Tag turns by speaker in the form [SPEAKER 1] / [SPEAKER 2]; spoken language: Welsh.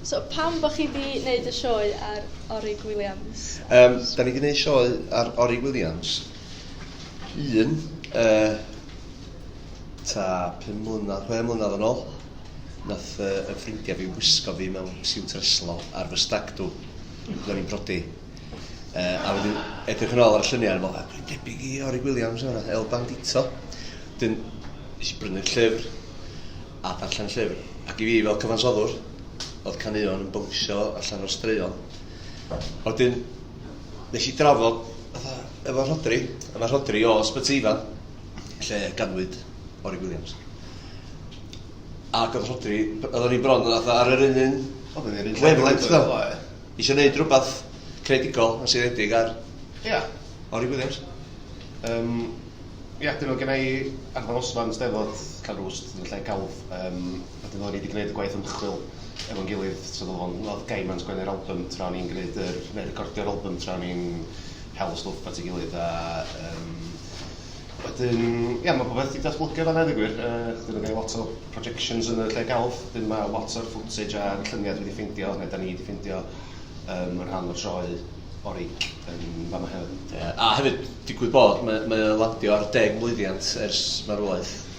[SPEAKER 1] So pam bod chi wedi gwneud y sioe ar Orig Williams? Um, da ni wedi gwneud sioe ar Orig Williams. Un, uh, ta 5 mlynedd, 6 mlynedd yn ôl, nath uh, y ffrindiau fi wisgo fi mewn siwt reslo ar fy stag dw. Ro'n i'n brodi. Uh, a wedyn edrych yn ôl ar y lluniau, fel, a dwi'n debyg i Ori Williams yma, El Bandito. Dyn, nes i brynu'r llyfr, a darllen y llyfr. Ac i fi, fel cyfansoddwr, oedd canuon yn bwngsio allan o'r straeon. A wedyn, nes i drafod, fatha, efo Rhodri, a mae Rhodri o Sbyteifa, lle ganwyd Ori Williams. Ac oedd Rhodri, oedd o'n i'n bron, oedd ar yr un un, oedd o'n i'r un lle. Weflent, ddo. Isio neud rwbath creadigol a seiliedig ar... Ia. ...Orie Williams. Yym ia dyna oedd genna i ar y nosfa yn y Steddfod, cael rhyw ws yn lle celf. Yym wedyn oedden ni 'di gwneud y gwaith ymchwil efo'n gilydd, so oedd o'n... oedd Gaim yn sgwennu'r albym tra o'n i'n gwneud yr... neu recordio'r albym tra o'n i'n hel y stwff at ei gilydd a yym Wedyn, ia, mae popeth wedi datblygu fanna, dweud gwir. Uh, dyn nhw'n cael lot o projections yn y lle galf, dyn mae lot o'r footage a'r llyniau dwi wedi ffeindio, neu da ni wedi ffeindio, um, yn rhan o'r sioe orig yn fama hefyd. Yeah. A hefyd, digwydd bod, mae, mae landio ar deg mlwyddiant ers marwolaeth.